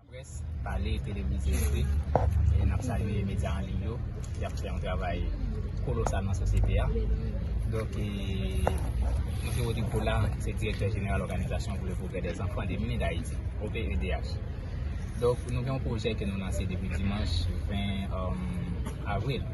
Laprès, pale, televize, ekri, n ap salye medya an liy yo, y ap fè yon travay kolosal nan sosyete a. Donk, Msye Rodrigue Poulard se Direktè Jeneral Òganizasyon pou le Pwogrè dè Zanfan de Mini Dayiti, OPEDH. Donk, nou gen yon pwojè ke nou lanse depi dimanch 20 avril.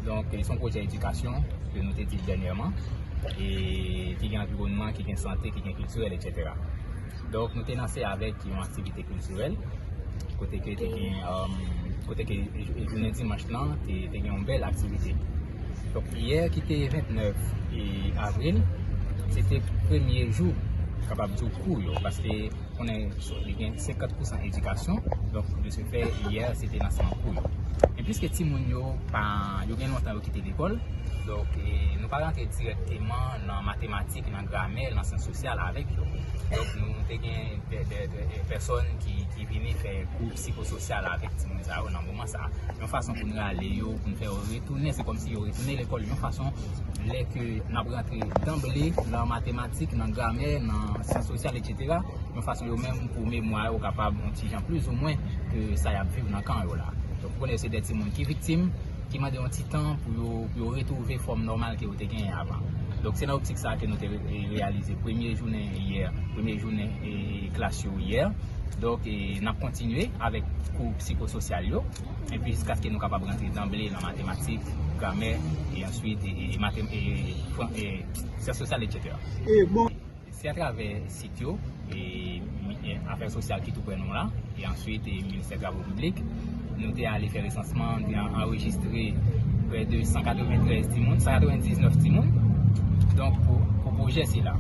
Donk, se yon pwojè edikasyon ke nou te di dènyèman, ki gen anviwònman, ki gen sante, ki gen kiltirèl, etc. Donk nou te lanse avèk yon aktivite kiltirèl kote ke te gen kote ke jounen dimanch lan te gen yon bèl aktivite donk yè ki te 29 avril se te premye jou kapab di w kou yo paske konnen li gen 50 pousan edikasyon donk de se fè yè se te lanseman kou yo e pliske ti moun yo pa yo gen lontan yo kite lekòl donk nou pa rantre direkteman nan matematik ki te nan gramè, nan syans sosyal avèk yo. Donk nou te gen de pèsòn ki vini fè kou psikososyal avèk timoun sa yo nan moman sa. Yon fason pou n rale yo, pou n fè yo retounen, se kòmsi yo retounen lekòl yon fason lè ke n ap rantre danble nan matematik, nan gramè, nan syans sosyal etsetera, yon fason yo menm pou memwa yo kapab yon ti jan plizoumwen ke sa y ap viv nan kan yo la. Donk ou konnen se de timoun ki viktim. ki mande yon ti tan pou yo pou yo retwouve fòm nòmal ke yo te genyen avan. Donk se nan optik sa ke nou te reyalize premye jounen yè, premye jounen klas yo yè. Donk n ap kontinye avèk kou psikososyal yo epi jiskaske nou kapab rantre danble nan matematik, gramè e answit syans sosyal etsetera. Se atravè sit yo, afè sosyal ki tou prè nou an, e answit ministè travo piblik, nou te ale fè resansman, nou te anrejistre prè de 193 timoun, 199 timoun, donk pou pwojè sila.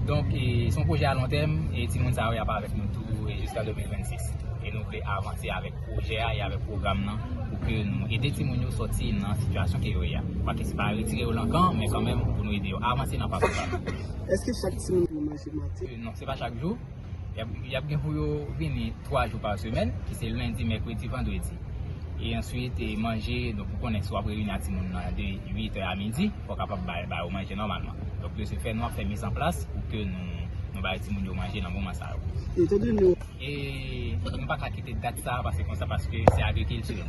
Donk, se yon pwojè alontèm, e timoun sa yo y ap avèk nou tou jiska 2026. E nou vle avanse avèk pwojè a, e avèk pwogram nan, pou ke nou ede timoun yo sòti nan sitiyasyon ke yo ye a. Pakè se pa retire yo lan kan, men kanmenm pou nou ede yo avanse nan pakou sa. Eske chak timoun pran manje maten? Non, se pa chak jou. Y ap gen pou yo vini 3 jou pa semèn, ki se lendi, mèkredi, vandredi. E answit, manje, donk ou konnen si w ap reyini ak timoun nan de 8 è a midi, fò w kapab ba yo manje nòmalman. Donk, de se fè, nou ap fè mizanplas pou ke nou ba timoun yo manje nan moman sa yo. Etan done. E nou pa ka kite dat sa a pase konsa paske se agrikilti.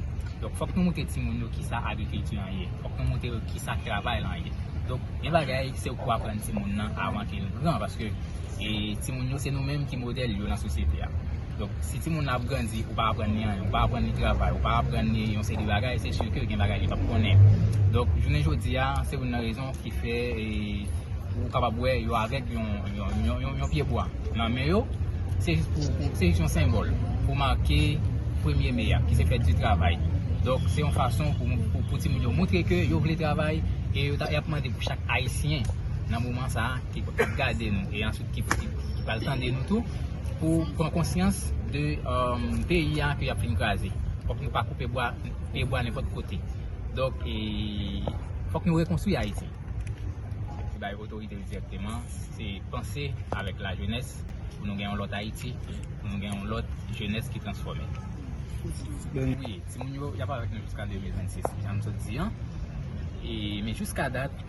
Donk fòk nou montre timoun yo ki sa agrikilti an ye. Fòk nou montre yo ki sa travay lan ye. Donk gen bagay se ou ki pou aprann timoun nan avan ke l gran paske timoun yo se nou menm ki modèl yo lan sosyete a. Donk si timoun nan ap grandi ou pa aprann li anyen, ou pa aprann li travay, ou pa aprann li yon seri de bagay se si ke gen bagay li p ap konnen. Donk jounen jodi a se youn nan rezon. Ki fè ou kapab wè yo avèk yon pye bwa nan men yo. Se jis pou, se jis yon senbòl pou make premye me a, ki se fèt di travay. Donk, se yon fason pou timoun yo montre ke yo vle travay e yo ta, y ap mande pou chak Ayisyen nan moman sa a ki ap gade nou e answit ki pral tande nou tou, pou pran konsyans de peyi a ke y ap fin kraze. Fòk nou pa koupe bwa, pye bwa nenpòt kote. Donk e fòk nou rekonstwi Ayiti. Se bay otorite yo dirèkteman, se panse avèk la jenès pou nou gen yon lòt Ayiti, pou nou gen yon lòt jenès ki transfòme. Wi, timoun yo, y ap avèk nou jiska 2026, jan m sot di an. E men jiska dat,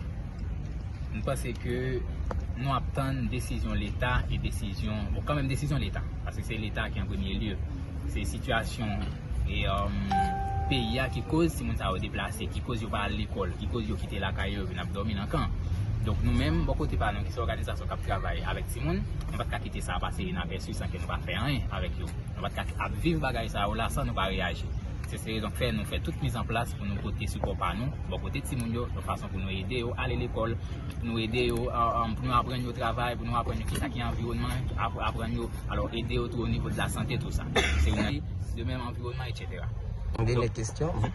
m panse ke nou ap tann desizyon leta e desizyon, bon kanmenm desizyon leta, paske se leta ki an premye lye. Se sitiyasyon E peyi a ki koz timoun sa yo deplase, ki koz yo pa al lekòl, ki koz yo kite lakay yo vin ap dòmi nan kan. Donk nou menm bò kote pa nou ki se òganizasyon k ap travay avèk timoun, nou pa t ka kite sa a pase inapèsi san ke nou pa fè anyen avèk yo. Nou pa t ka ap viv bagay sa yo la san nou pa reyaji. Se se rezon k fè nou fè tout miz an plas pou nou pote sipò pa nou bò kote timoun yo yon fason pou nou ede yo ale lekòl, pou nou ede yo, pou nou aprann yo travay, pou nou aprann yo kisa ki anviwònman, aprann yo, alò ede yo tou onivo de la sante tou sa. de menm anviwònman etc. M gen yon kestyon.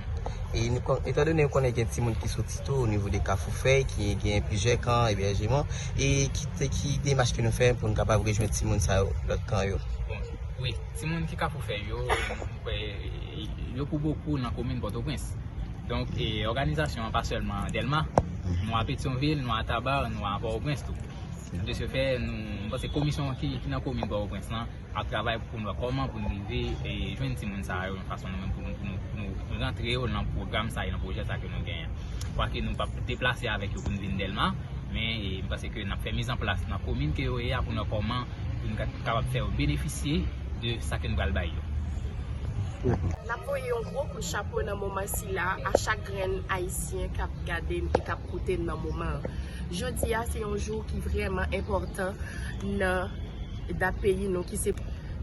Etan done nou konnen gen timoun ki soti tou o nivo de kafou fèy ki gen plizyè kan ebèjeman e ki demach ke nou fè pou nou kapab rejwenn timoun sa yo lòt kan yo? Bon, wi. Timoun ki kafou fèy yo, m kwè yo pou bokou nan komin Pòtoprens. Donk, òganizasyon an pa sèlman Dèlma. Nou a Petyonvil, nou a Tabar, nou a Pòtoprens tou. De se fè, m panse komisyon ki nan komin Pòtoprens lan. ap travay pou nou wè kòman pou nou rive jwenn timoun sa yo yon fason nou menm pou nou rantre yo nan pwogram sa yo, nan pwojè sa yo ke nou genyen. Kwake nou pap deplase avèk yo pou nou vin Dèlma, men m panse ke n ap fè mizanplas nan komin ke yo ye a pou nou wè kòman pou nou kapab fè yo benefisye de sa ke nou pral bay yo. N ap voye yon gwo kout chapo nan moman sila a chak grenn Ayisyen k ap gade n e k ap koute n nan moman an. Jodi a se yon jou ki vrèman enpòtan nan. Dat peyi nou ki se,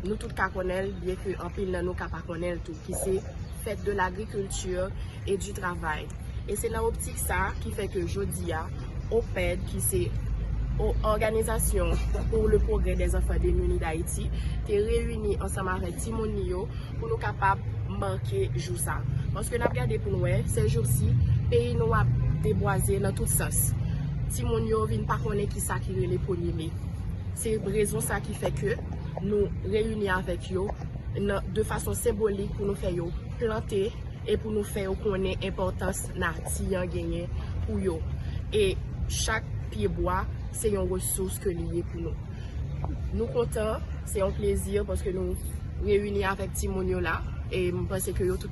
nou tout ka konnen l, byen ke anpil nan nou ka pa konnen l tou, ki se fèt de l'agriculture et du travail. E se nan optik sa a ki fè ke jodi a, OPED, ki se Organisation pour le Progrès des Enfants Démunis d'Haïti, te reyini ansanm avèk timoun li yo pou nou kapab make jou sa. Paske n ap gade pou n wè, sèjousi, peyi nou ap debwaze nan tout sans. Timoun yo vin pa konnen ki sa ki rele premye me. Se rezon sa ki fè ke nou reyini avèk yo de fason senbolik pou nou fè yo plante e pou nou fè yo konnen enpòtans nati an genyen pou yo. E chak pye bwa se yon resous ke li ye pou nou. Nou kontan, se yon plezi paske nou reyini avèk timoun yo la e m panse ke yo tout.